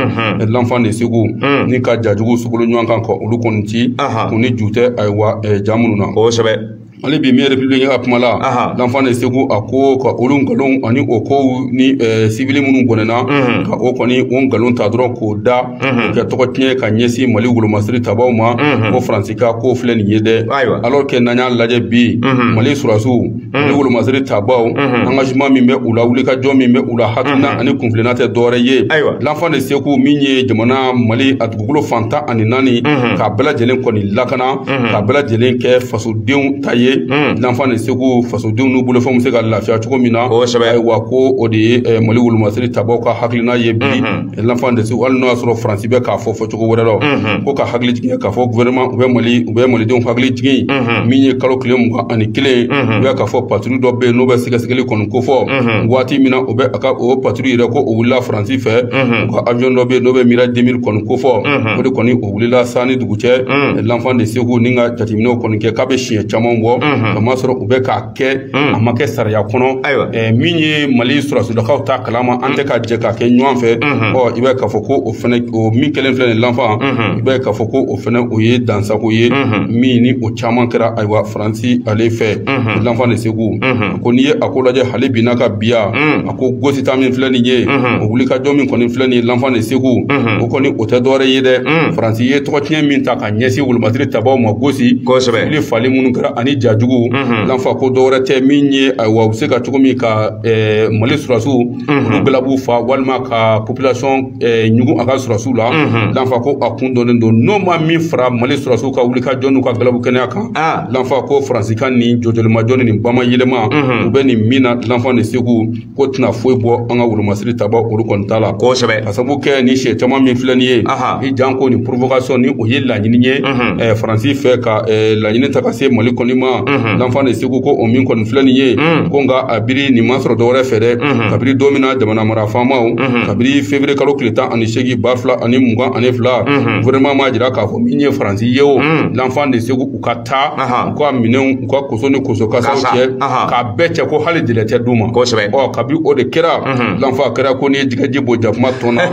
l'enfant de segu ni ka jajugu sogolo ɲɔgɔn kan ka olu kɔni ci kun ni ju tɛ ayiwa ja minnu na kosɛbɛ hali bi miɲɛ république ka kuma la l'enfant de segu a ko ka olu nkalon ani o kow ni civil minnu bɔnɛna ka o kɔni o nkalon ta dɔrɔn k'o da kɛ tɔgɔ tiɲɛ ka ɲɛsin mali wolomasiri tabaw ma ko faransi ka ko filɛ nin ye dɛ alors que n'an y'a lajɛ bi mali surasiw mali wolomasiri tabaw engagement min bɛ u la wulikajɔ min bɛ u la hakilina ani kuntilenna tɛ dɔwɛrɛ ye Ayiwa. l'enfant de segu min ye jamana mali a dugukolo fan tan ani naani k'a bɛɛ lajɛlen kɔni lakana k'a bɛɛ lajɛlen kɛ fasodenw ta ye l'enfant de segu fasodenw n'u bolofɛnw bɛ se ka lafiya cogo min na Kosɛbɛ. ayiwa ko o de ye eh, mali wolomasiri tabaw ka hakilina ye bi l'enfant de segu hali n'o y'a sɔrɔ faransi bɛ k'a fɔ fɔ cogo wɛrɛ la mhm. ko ka hakili jigin k'a fɔ gouvernement u bɛ mali u bɛ malidenw hakili jigin mhm. min ye kalo tile mugan ani kelen mhm. u bɛ k'a fɔ patrouille dɔ bɛ yen n'o bɛ sɛgɛsɛgɛli kɔni kofɔ waati min na o bɛ a ka o patrouille yɛrɛ ko o wulila faransi fɛ u ka avion dɔ bɛ yen n'o bɛ mirage 2000 kɔni kofɔ o de kɔni o wulila san ni dugu cɛ l'enfant de segu ni ka jateminɛw kɔni kɛ k'a bɛ siɲɛ caman bɔ ka masɔrɔ u bɛ k'a kɛ a ma kɛ sariya kɔnɔ min ye mali sɔrɔsidakaw t'a kalama an tɛ ka jɛ k'a kɛ ɲɔgɔn fɛ ɔ i bɛ k'a fɔ ko o fana o min kelen filɛ nin l'enfant i bɛ k'a fɔ ko o fana o ye dansagon ye min ni o caman kɛra ayiwa faransi ale fɛ l'enfant de segu ko n'i ye a ko lajɛ hali bi n'a ka biya a ko gosi ta min filɛ nin ye o wulikajɔ min kɔni filɛ nin ye l'enfant de segu o kɔni o tɛ dɔwɛrɛ ye dɛ faransi ye tɔgɔ tiɲɛ min ta a ɲɛsin wolomasiri tabaw ma gosi kosɛbɛ ni fali minnu kɛra ani jajugu l'enfant ko dɔwɛrɛ tɛ min ye ayiwa u bɛ se ka cogo min ka eh, mali sɔrɔsiw olu galabu fa walima ka population eh, ɲugun a ka sɔrɔsiw la l'enfant ko a kun dɔnnen don n'o ma min fara mali sɔrɔsiw ka wulikajɔ n'u ka galabu kɛnɛya kan Ah. l'enfant ko faransi ka nin jɔjɔlimajɔ ni nin bama yɛlɛma u bɛ nin min na l'enfant de segu k'o tɛna foyi bɔ an ka wolomasiri tabaw olu kɔni t'a la kosɛbɛ ka sabu kɛ ni sɛ caman min filɛ nin ye janko nin provocation ni o ye laɲini ye eh, faransi fɛ ka eh, laɲini ta ka se mali kɔni ma l'enfant de segu ko o min kɔni filɛ nin ye ko nka a biri nin ma sɔrɔ dɔwɛrɛ fɛ dɛ kabiri don min na jamana mara faamaw kabiri fevrier kalo tile tan ani seegin ba fila ani mugan ani fila gouvernement m'a jira k'a fɔ min ye faransi ye o l'enfant de segu u ka taa Ahan. u ka minɛnw u ka koso ni koso kasaw Kasa, cɛ ahan. k'a bɛɛ cɛ ko hali délai tɛ d'u ma Kosɛbɛ. ɔ kabi o de kɛra l'enfant kɛra ko n'i ye jɛgɛji bɔn jakuma tɔn na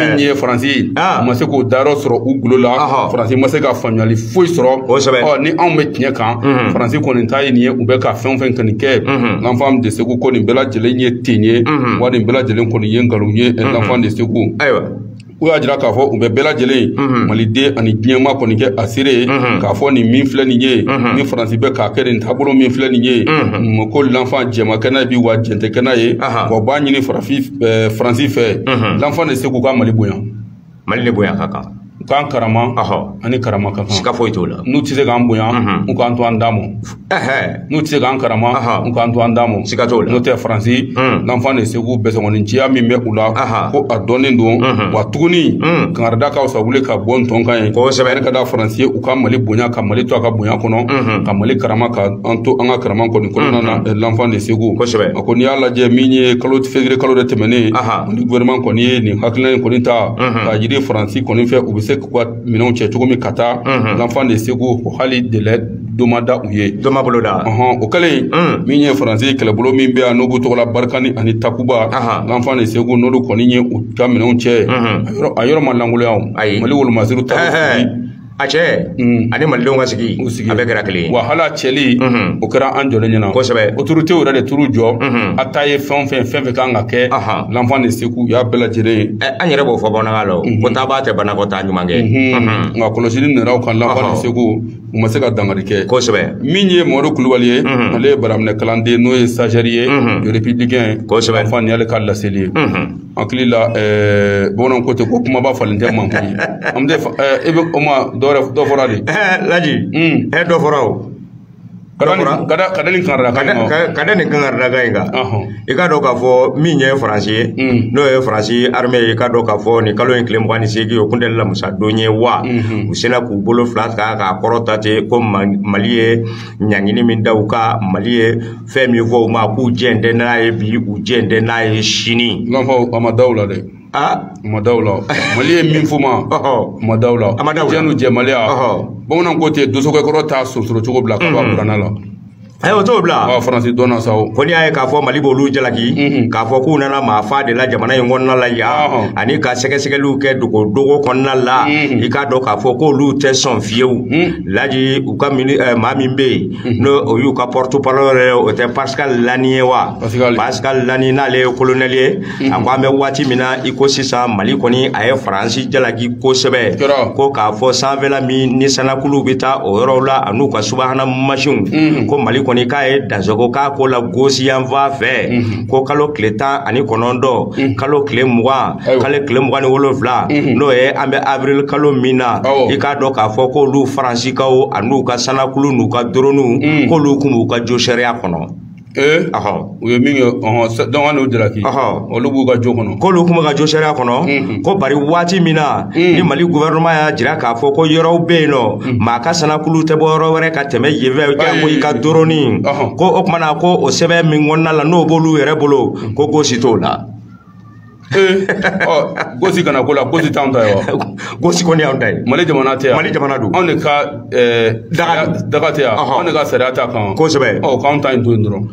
min ye faransi ye Ah. u ma se k'o dayɔrɔ sɔrɔ u golo la Ahan. faransi ma se ka faamuyali foyi sɔrɔ Kosɛbɛ. ɔ ni anw bɛ tiɲɛ kan faransi kɔni ta ye nin ye u bɛ ka fɛn o fɛn kɔni kɛ l'enfant de segu ko nin bɛɛ lajɛlen ye ten ye wa nin bɛɛ lajɛlen kɔni ye nkalon ye l'enfant de segu ayiwa u y'a jira k'a fɔ u bɛ bɛɛ lajɛlen mhm. maliden ani diɲɛmaa kɔni kɛ a seere ye mhm. k'a fɔ nin min filɛ nin ye mhm. ni faransi bɛ k'a kɛ nin taabolo min filɛ nin ye ko l'enfant jɛn ma kɛ n'a ye bi wa jɛn tɛ kɛ n'a ye wa u b'a ɲini faransi fɛ l'enfant de segu u ka mali bonya mali ni bonya ka kan u k'an karama an ni karama ka kan siga foyi t'o la n'u tɛ se k'an bonya u k'an to an dama n'u tɛ se k'an karama u k'an to an dama siga t'o la n'o tɛ faransi l'enfant de segu bɛsɛnkɔniciya min bɛ u la ko a dɔnnen don wa tuguni kangarida ka fisa wuli ka bɔ n tɔn kan ye kosɛbɛ ne ka da faransi ye u ka mali bonya ka mali to a ka bonya kɔnɔ ka mali karama ka an to an ka karama kɔni kɔnɔna na l'enfant de segu kosɛbɛ a ko n'i y'a lajɛ min ye fevrier kalo de tɛmɛnen ni gouvernement kɔni ye nin hakilina in kɔni ta k'a jira faransi kɔni fɛ u bɛ se k'u ka minɛnw cɛ cogo min ka taa l'enfant de segu ko hali délai dɔ ma da u ye dɔ ma bolo da ɔhɔn o kɛlen min ye faransi kɛlɛbolo min bɛ yan n'o b'u tɔgɔ la barikani ani takuba l'enfant de segu n'olu kɔni ye u ka minɛnw cɛ a yɔrɔ ma lankolonya o ayi mali wolomasiri taa cɛ ani malidenw ka sigi u sigi a bɛɛ kɛra kelen wa hali a cɛli o kɛra an jɔlen ɲɛna kosɛbɛ autoritéw yɛrɛ de turu jɔ a ta ye fɛn o fɛn fɛn fɛn kan ka kɛ l'enfant de segu u y'a bɛɛ lajɛlen ye eh, an yɛrɛ b'o fɔ bamanankan la o mhm. ko taabaa tɛ banakɔtaa ɲuman kɛ mhm. Mhm. nka kɔlɔsili nana u kan l'enfant de segu u ma se ka dankari kɛ kosɛbɛ min ye mɔri kulubali ye ale ye baaraminɛ kalanden n'o ye stagiaire ye républicain kosɛbɛ l'enfant nin y'ale ka laseli ye hakili la eh, bamananw ko ten ko kumaba falen tɛ mankun ye an bɛ eh, i bɛ o ma dɔ fɔra de laji hmm. dɔ fɔra o ka da nin kangarida kan in kan i k'a dɔn k'a fɔ min ye faransi ye n'o ye faransi armée ye i k'a dɔn k'a fɔ nin kalo in tile mugan ni seegin o kun tɛ lamusadon ye wa u sera k'u bolo fila ta k'a kɔrɔta ten ko mali ye ɲangini min da u kan mali ye fɛn min fɔ u ma k'u jɛn tɛ n'a ye bi u jɛn tɛ n'a ye sini. n b'a fɔ a ma da o la dɛ. aa ma da u la mali ye min fɔ ma ma da u la a ma da u la jɛnu jɛmaliya bamananw ko ten dosokɛ kɔrɔ t'a sonsoro cogo bila ka bɔ a buranna la ayi o t'o bila ɔ faransi dɔnna sa o ko n'i y'a ye k'a fɔ mali b'olu jalaki k'a fɔ k'u nana maa fa de la jamana in kɔnɔna la yan ani ka sɛgɛsɛgɛliw kɛ dogo dogo kɔnɔna la i k'a dɔn k'a fɔ k'olu tɛ sɔn fiyewu laji u ka mini ɛ, maa min bɛ yen n'o o y'u ka porte parole yɛrɛ ye o tɛ pascal lani ye wa Pascal. pascal lani n'ale ye kolonɛli ye a ko an bɛ waati min na i ko sisan mali kɔni a ye faransi jalaki kosɛbɛ ko k'a fɔ sanfɛla min ni sanakuluw bɛ taa o yɔrɔw la an'u ka subahana masinw mm. ko mali kɔni k'a ye dansagon k'a ko la gosi yanfan fɛ mm-hmm. ko kalo tile tan ani kɔnɔntɔn mm. kalo tile mugan kalo tile mugan ni wolonfila mm-hmm. n'o ye an bɛ avril kalo min na i k'a dɔn k'a fɔ k'olu faransikaw an'u ka sanakulu n'u ka doroniw mm. k'olu kun b'u ka jo sariya kɔnɔ Ee u ye min kɛ dɔn n'o jalaki olu b'u ka jo kɔnɔ k'olu kun b'u ka jo sariya kɔnɔ ko bari waati min na ni mali gouvernement y'a jira k'a fɔ ko yɔrɔw bɛ yen n'o maa ka sanakulu tɛ bɔ yɔrɔ wɛrɛ ka tɛmɛ yen fɛ janko i ka doroni ko o tuma na ko o sɛbɛn min kɔnɔna la n'o b'olu yɛrɛ bolo ko gosi t'o la gosi kana k'o la gosi t'anw ta ye wa gosi kɔni y'anw ta ye mali jamana tɛ yan mali jamana don anw de ka daga daga tɛ yan anw de ka sariya t'a kan kosɛbɛ ɔ k'anw ta in to yen dɔrɔn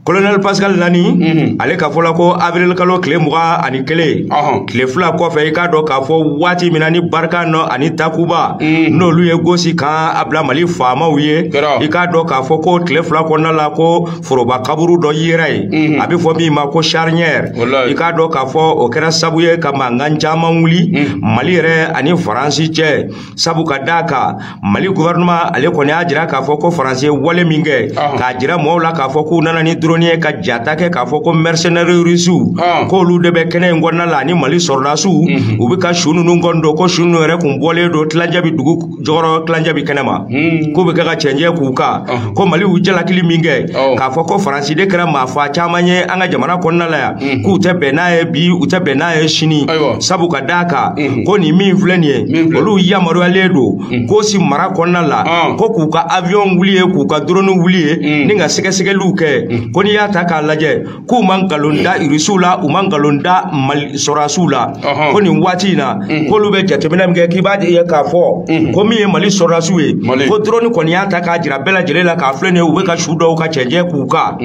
kolonɛli pascal lani mhm. ale ka fɔla ko avril kalo tile mugan ani kelen tile fila kɔfɛ i k'a dɔn k'a fɔ waati min na ni barkhane ani takuba mhm. n'olu ye gosi kan labila mali faamaw ye i k'a dɔn k'a fɔ ko tile fila kɔnɔna la ko foroba kaburu dɔ yera ye mhm. a bɛ fɔ min ma ko charnière i k'a dɔn k'a fɔ o kɛra sabu ye ka mankan caman wuli mhm. mali yɛrɛ ani faransi cɛ sabu ka d'a kan mali gouvernement ale kɔni y'a jira k'a fɔ ko faransi ye wale min kɛ k'a jira mɔgɔw la k'a fɔ k'u nana ni drone ye ka jata kɛ k'a fɔ ko mercenaire rusiw k'olu de bɛ kɛnɛ in kɔnɔna la ani mali sɔrɔdasiw mhm. u bɛ ka su ninnu kɔni don ko su ninnu yɛrɛ kun bɔlen don tilancɛ bɛ dugu jukɔrɔ tilancɛ bɛ kɛnɛ ma hmm. k'u bɛ kɛ ka cɛncɛn k'u kan uh-huh. ko mali y'u jalakili min kɛ oh. k'a fɔ ko faransi de kɛra maa fa caman ye an ka jamana kɔnɔna la yan hmm. k'u tɛ bɛn n'a ye bi u tɛ bɛn n'a ye sini sabu ka d'a kan hmm. ko nin min filɛ nin ye olu yamaruyalen don gosi mara kɔnɔna la ah. ko k'u ka awiyɔn wuli ye k'u ka doroni wuli ye ni ka sɛgɛsɛgɛliw kɛ ko n'i y'a ta k'a lajɛ k'u ma nkalon da irisiw la u ma nkalon da mali sɔrɔdasiw la Ɔhɔn. ko nin waati in na k'olu bɛ jateminɛ min kɛ k'i b'a ye k'a fɔ ko min ye mali sɔrɔdasiw ye Mali. ko drone kɔni y'a ta k'a jira bɛɛ lajɛlen la k'a filɛ nin ye u bɛ ka su dɔw ka cɛncɛn k'u kan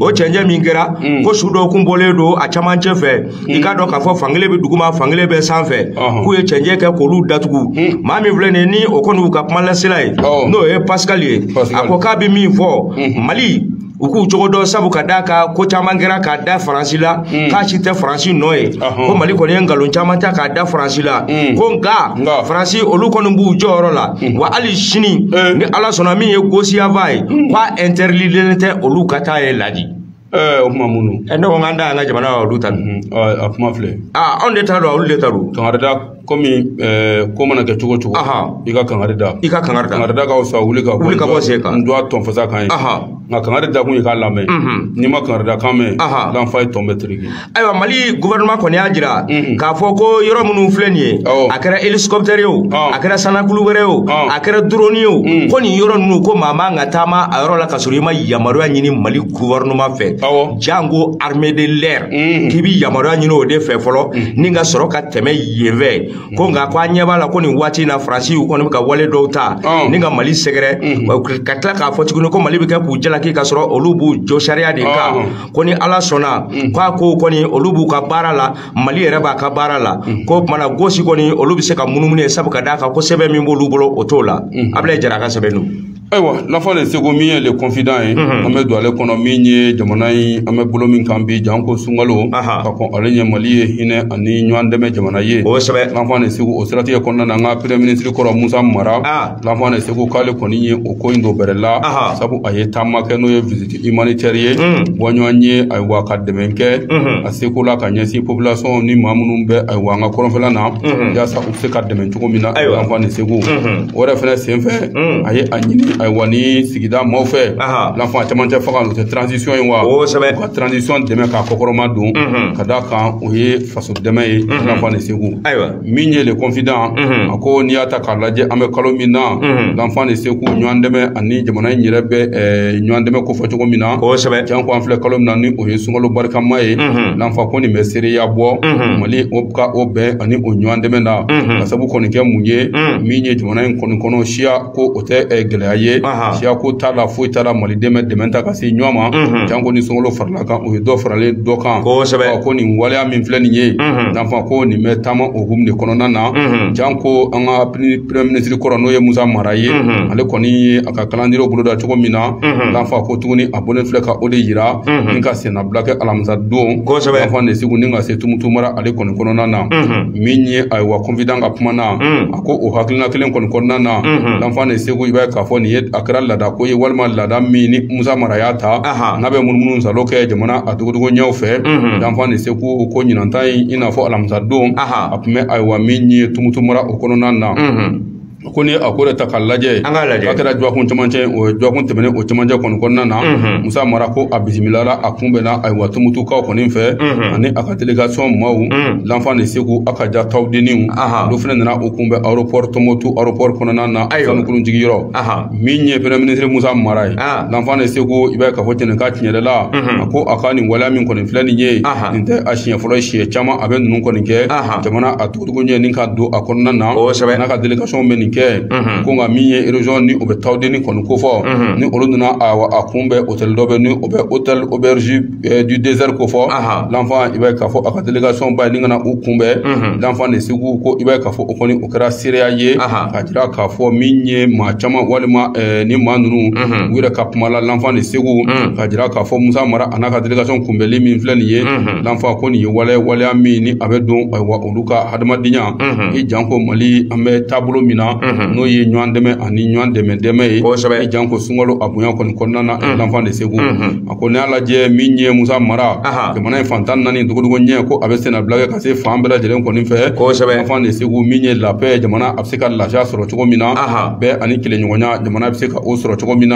o cɛncɛn min kɛra ko su dɔw kun bɔlen don a camancɛ fɛ i k'a dɔn k'a fɔ fankelen bɛ duguma fankelen bɛ sanfɛ Ɔhɔn. k'u ye cɛncɛn kɛ k'olu datugu maa min filɛ nin ye ni o kɔni y'u ka kumalasela ye Ɔhɔn. n'o ye pascal ye Pascal. a ko k'a bɛ min fɔ mali u k'u cogo dɔn sabu ka d'a kan ko caman kɛra k'a da faransi la hmm. k'a si tɛ faransi nɔ ye ko mali kɔni ye nkalon caman ta k'a da faransi la hmm. ko nka faransi olu kɔni b'u jɔyɔrɔ la hmm. wa hali sini eh. ni ala sɔnna min ye gosi yanfan ye k'a ɛntɛridilen tɛ olu ka taa yen laji eh, o kuma minnu eh, ne ko n k'an da an ka jamana olu ta a kuma filɛ ah, anw de ta don olu de ta don komi ɛɛ ko mana kɛ cogo o cogo Ahan. i ka kangari da i ka kangari da. kangari da ka fisa wuli ka Wuli ka bɔ sen kan. n dɔgɔ tɔnfasa kan ye Ahan. nka kangari da kun ye k'a lamɛn n'i ma kangari da kan mɛn Ahan. l'enfant i tɔn bɛ tereke ayiwa mali gouvernement kɔni y'a jira k'a fɔ ko yɔrɔ minnu filɛ nin ye Awɔ. a kɛra hélicoptère ye o Ɔn. a kɛra sannakulun wɛrɛ ye o Ɔn. a kɛra drone ye o ko nin yɔrɔ ninnu ko maa man ka taama a yɔrɔ la ka sɔrɔ i ma yamaruya ɲini mali gouvernement fɛ janko armée de l'air mm. k'i bi yamaruya ɲini o de fɛ fɔlɔ mm. ni ka sɔrɔ ka tɛmɛ yen fɛ mm. ko nka ko an ɲɛ b'a la ko nin waati in na faransi u kɔni bɛ ka wale dɔw ta ni ka mali sɛgɛrɛ ka tila k'a fɔ tuguni ko mali bɛ kɛ k'u jalaki ka sɔrɔ olu b'u jɔ sariya de kan ko ni ala sɔnna ko a kow kɔni olu b'u ka baara la mali yɛrɛ b'a ka baara la ko kumana gosi kɔni olu bɛ se ka munumunu yen sabu ka d'a kan ko sɛbɛn min b'olu bolo o t'o la ablaye jara a ka sɛbɛn don ayiwa l'enfant de segu min ye le confident ye an bɛ don ale kɔnɔ min ye jamana in an bɛ bolo min kan bi janko sunkalo ka kɔn ale ɲɛ mali ye hinɛ ani ɲɔgɔn dɛmɛ jamana ye kosɛbɛ l'enfant de segu o siratigɛ kɔnɔna na an ka premier ministre kɔrɔ musa mara l'enfant de segu k'ale kɔni ye o ko in don bɛrɛ la sabu a ye taama kɛ n'o ye visite humanitaire ye bɔɲɔgɔn ye ayiwa ka dɛmɛ kɛ a seko la ka ɲɛsin population ni maa minnu bɛ ayiwa an ka kɔrɔnfɛla na yaasa se ka dɛmɛ cogo min na ayiwa l'enfant de segu o yɛrɛ fana senfɛ a ye a ɲini ayiwa ni sigida maaw fɛ l'enfant cɛmancɛ fanga o tɛ transition ye wa kosɛbɛ ka transition dɛmɛ k'a kɔkɔrɔmadon ka d'a kan o ye faso dɛmɛ ye l'enfant de segu ayiwa min ye le confident a ko n'i y'a ta k'a lajɛ an bɛ kalo min na l'enfant de segu ɲɔgɔn dɛmɛ ani jamana in yɛrɛ bɛ ɲɔgɔn dɛmɛ kofɔ cogo min na kosɛbɛ janko an filɛ kalo min na ni o ye sunkalo barikama ye l'enfant ko nin bɛ seereya bɔ mali o ka o bɛn ani o ɲɔgɔn dɛmɛ na k'a sabu kɔni kɛ mun ye min ye jamana in kɔni kɔnɔ siya ko o tɛ eh, gɛlɛya ye Aha. siya ko t'a la foyi t'a la maliden bɛ dɛmɛ ta ka se ɲɔgɔn ma janko ni sunkalo farala a kan o ye dɔ faralen dɔ kan Kosɛbɛ. Ɔ, ko nin waleya min filɛ nin ye l'enfant ko nin bɛ taama o hukumu de kɔnɔna na janko an ka pini- premier ministre kɔrɔ n'o ye musa mara ye ale kɔni ye a ka calendrier boloda cogo min na l'enfant ko tuguni a bɔlen filɛ ka o de yira ni ka senna bila kɛ alamisa don kosɛbɛ l'enfant de segu ni ka se tumutu mara ale kɔni kɔnɔna na min ye ayiwa confident ka kuma na a ko o hakilina kelen kɔni kɔnɔna na l'enfant de segu i b'a ye k'a fɔ nin ye a kɛra laada ko ye walima laada min ni musa mara y'a ta n'a bɛ munumunusaalo kɛ jamana a dogodogoninw fɛ l'enfant de segu ko ɲinanta in i n'a fɔ alamisa don a tun bɛ ayiwa min ye tumutu mara o kɔnɔna na ko ni a ko de ta k'a lajɛ an k'a lajɛ a kɛra jɔkun camancɛ o jɔkun tɛmɛnen o camancɛ kɔni kɔnɔna na mhm. musa mara ko a bisimilala a kunbɛnna ayiwa tumutukaw kɔni fɛ mhm. ani a ka delegation maaw mhm. lanfan de segu a ka ja tawdeniw olu fana nana u kunbɛn aéroport tumutu aéroport kɔnɔna na sanukulu jigiyɔrɔ min ye premier ministre musa mara ye ah. lanfan de segu i b'a ye k'a fɔ cɛnni ka tiɲɛ yɛrɛ la a ko a ka nin waleya min kɔni filɛ nin ye nin tɛ a siɲɛ fɔlɔ siɲɛ caman a bɛ ninnu kɔni kɛ jamana a dogo ɲɛ ni ka don a kɔnɔna na kosɛbɛ n'a ka delegation bɛ nin kɛ ko nka min ye région ni o bɛ tawdeni kɔni ko fɔ ni olu nana a kunbɛn otɛli dɔ bɛ ni o bɛ otɛli auberge du désert ko fɔ lanfan i b'a ye k'a fɔ a ka delegation ba ye ni ka na u kunbɛn lanfan de segu ko i b'a ye k'a fɔ o kɔni o kɛra seereya ye k'a jira k'a fɔ min ye maa caman walima ni maa ninnu u yɛrɛ ka kuma la lanfan de segu k'a jira k'a fɔ musa mara a n'a ka delegation kunbɛnli min filɛ nin ye lanfan ko nin ye waleya waleya min ni a bɛ don ayiwa olu ka hadamadenya i janko mali an bɛ taabolo min na n'o ye ɲɔgɔn dɛmɛ ani ɲɔgɔn dɛmɛ dɛmɛ ye Kosɛbɛ. i janko sunkalo a bonya kɔni kɔnɔna na lanfan de segu a ko n'i y'a lajɛ min ye musa mara Aha. jamana in fan tan ni naani dogodogo ɲɛ ko a bɛ sennabila kɛ ka se fan bɛɛ lajɛlen kɔni fɛ Kosɛbɛ. lanfan de segu min ye la paix jamana a bɛ se ka lafiya sɔrɔ cogo min na Aha. bɛn ani kelenɲɔgɔnya jamana bɛ se ka o sɔrɔ cogo min na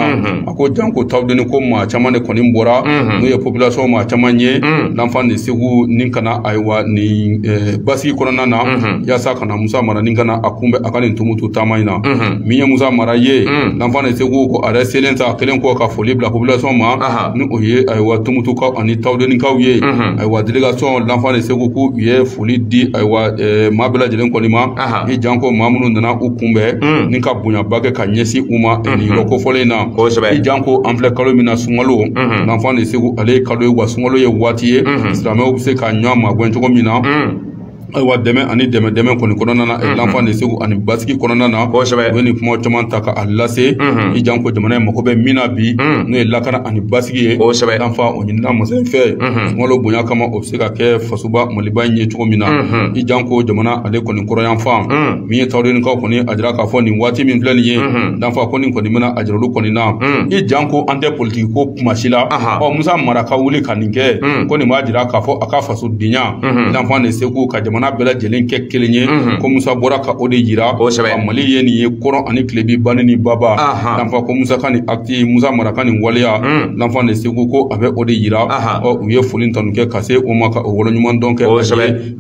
ko janko tawdeni ko maa caman de kɔni bɔra n'o ye population maa caman ye lanfan de segu ni ka na ayiwa ni eh, basigi kɔnɔna na yaasa ka na musa mara ni ka na a kunbɛn a ka nin tumutu taama in na min ye musa mara ye lanfan de segu ko a yɛrɛ selen sa kɛlen kɔ ka foli bila population ma ni o ye ayiwa tumutukaw ani tawdenikaw ye ayiwa delegation lanfan de segu ko u ye foli di ayiwa eh, maa bɛɛ lajɛlen kɔni ma i janko maa minnu nana u kunbɛn hmm. ni ka bonyaba kɛ ka ɲɛsin u ma eh, nin hmm. yɔrɔ kofɔlen in na i janko an filɛ kalo min na sunkalo hmm. lanfan de segu ale ye kalo ye wa sunkalo ye waati ye silamɛw bɛ se ka ɲɔgɔn magɛn cogo min na ayiwa dɛmɛ ani dɛmɛ dɛmɛ kɔni kɔnɔna na mhm. lanfan de segu ani basigi kɔnɔna na kosɛbɛ u ye nin kuma caman ta ka a lase mhm. i janko jamana in mago bɛ min na bi mhm. n'o ye lakana ani basigi ye kosɛbɛ lanfan o ɲinina masa in fɛ sunkalo bonya kama o bɛ se ka kɛ faso ba maliba in ye cogo min na i janko jamana ale kɔni kɔrɔyanfan min ye tawdenikaw kɔni a jira k'a fɔ nin waati min filɛ nin ye lanfan ko nin kɔni bɛna a jira olu kɔni na i janko an tɛ politiki ko kuma si la ɔ musa mara ka wuli ka nin kɛ ko nin b'a jira k'a fɔ a ka fasodenya lanfan de segu ka jamana bɛɛ lajɛlen kɛ kelen ye ko musa bɔra ka o de yira ko mali ye nin ye kɔrɔn ani tilebi bani ni baba lanfan ko musa ka nin acte musa mara ka nin waleya lanfan de segu ko a bɛ o de yira u ye foli ni tanu kɛ ka se o ma ka o waleɲumandɔn kɛ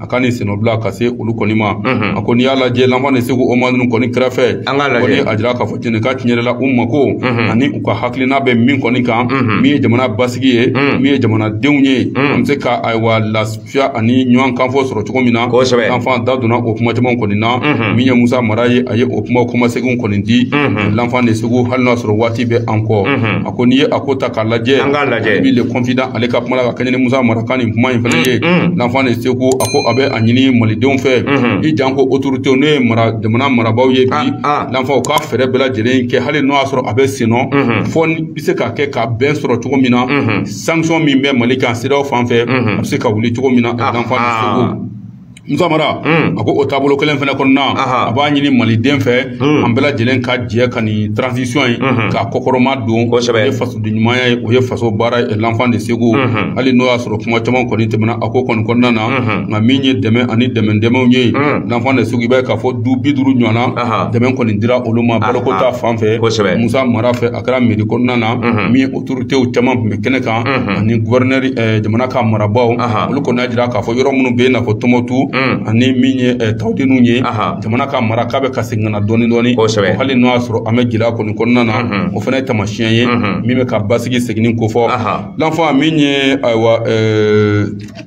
a ka nin sennabila ka se olu kɔni ma a ko n'i y'a lajɛ lanfan de segu o maa ninnu kɔni kɛrɛfɛ kɔni a jira k'a fɔ cɛnni ka tiɲɛ yɛrɛ la u mako ani u ka hakilina bɛ min kɔni kan min ye jamana basigi ye min ye jamanadenw ye an bɛ se ka ayiwa fiya ani ɲɔgɔn kanfɔ sɔrɔ cogo min na kosɛbɛ l'enfant da donna o kuma caman kɔni na mhm. min ye musa mara ye a ye o kuma kɔmaseginw kɔni di mhm. l'enfant de segu hali n'a sɔrɔ waati bɛ an kɔ mhm. a ko n'i ye a ko ta k'a lajɛ an k'a lajɛ min le confident ale ka kuma la ka kɛɲɛ ni musa mara ka nin kuma in fana ye l'enfant de segu a ko a bɛ a ɲini malidenw fɛ i janko autoritéw n'o ye jamana marabaaw ye bi ah, ah. l'enfant u ka fɛɛrɛ bɛɛ lajɛlen kɛ hali n'o y'a sɔrɔ a bɛ sennɔ fɔ bɛ se k'a kɛ ka bɛn sɔrɔ cogo min na sanction min bɛ mali kan cedeao fan fɛ a bɛ se ka wuli cogo min na l'enfant de segu musa mara a ko o taabolo kelen fana kɔnɔna a b'a ɲini maliden fɛ an bɛɛ lajɛlen ka jɛ ka nin transition ye k'a kɔkɔrɔma don o ye fasoden ɲumanya ye o ye faso baara ye l'enfant de segu hali n'o y'a sɔrɔ kuma caman kɔni tɛmɛna a ko kɔni kɔnɔna na nka min ye dɛmɛ ani dɛmɛ dɛmɛw ye l'enfant de segu i b'a ye k'a fɔ du bi duuru ɲɔgɔnna dɛmɛ kɔni dira olu ma baloko ta fan fɛ musa mara fɛ a kɛra mairie kɔnɔna na min autoritéw caman tun bɛ kɛnɛ kan ani gouverneur jamana ka marabaaw olu kɔni y'a jira k'a fɔ yɔrɔ minnu bɛ yen n'a fɔ tɔnbukutu ani min ye tawudeniw ye jamana ka mara k'a bɛ ka segin ka na dɔɔni dɔɔni hali n'o y'a sɔrɔ an bɛ gɛlɛya kɔni kɔnɔna na o fana ye taamasiyɛn ye min bɛ ka basigi seginni kofɔ l'enfant min ye ayiwa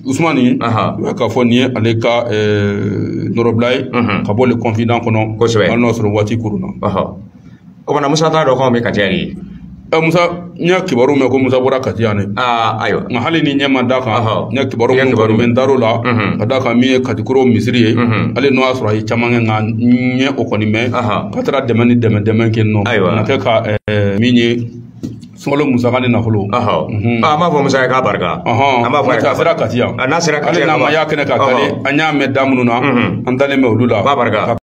usumani u y'a k'a fɔ nin ye ale ka nɔrɔbila ye ka bɔ le confident kɔnɔ hali n'o y'a sɔrɔ waati koronna o banna musa t'a dɔn k'anw bɛ kati yan de ɛ musa n ye kibaru mɛn ko musa bɔra kati yan ne aa ayiwa nka hali ni n ɲɛ ma da a kan n ye kibaru minnu kɔni mɛn n dar'o la ka da kan min ye katikoro misiri ye hali n'o y'a sɔrɔ a ye caman kɛ nka n ye o kɔni mɛn k'a taara dɛmɛ ni dɛmɛ dɛmɛ kɛ nɔ na kɛ ka min ye sunkalo musaka ni nafolo an b'a fɔ musa ye k'a barika an b'a fɔ a sera kati yan a sera kati yan an ma y'a kɛnɛ kan nka an y'a mɛn da minnu na an dalen bɛ olu la barika